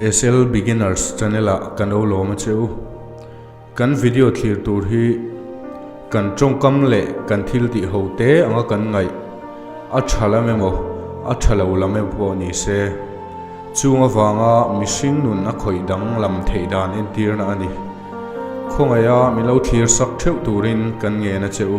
Excel Beginners channel ah ka no lawm a che u. Kan video thlir tur hi kan tawngkam leh kan thil tih ho te anga kan ngaih a tha lam emaw a tha lo lam emaw pawh ni se, chung avanga mihring nun a khawih dang lam theih dan entirna a ni. Khawngaia min lo thlir sak theuh turin kan ngen a che u.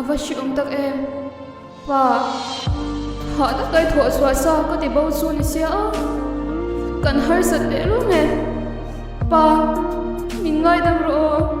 A va hriawm tak em? Pa, hah tak kai thawh chhuah sa ka ti bo chu ni sia a, kan harsat leh lo nge. Pa, min ngaidam rawh aw.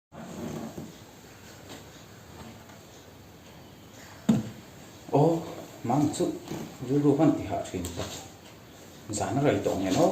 Aw mahni chu rilru hman ti hah thin ka ti. Zan a raih tawh ang em aw.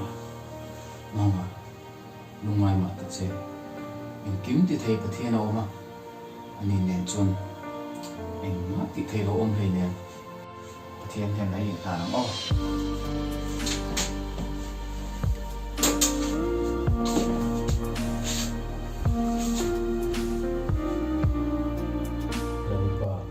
A nghawng a, lungngai mah tak che. Eng kim ti thei Pathian a awm a, ani nen chuan engmah tih thei lo awm hlei nen Pathian hian a inhlan ang aw. Lalpa.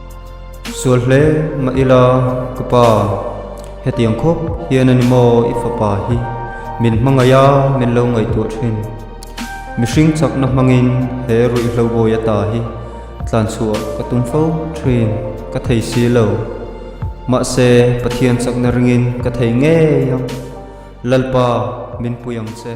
Sual hle mah ila ka pa, hetiang khawp hian a ni maw i fapa hi? Min hmangaih a, min lo ngaihtuah thin. Mihring chakna hmangin he ruih hlobawi ata hi tlan chhuah ka tum fo thin ka thei si lo. Mahse Pathian chakna ringin ka thei ngei ang. Lalpa min pui ang che.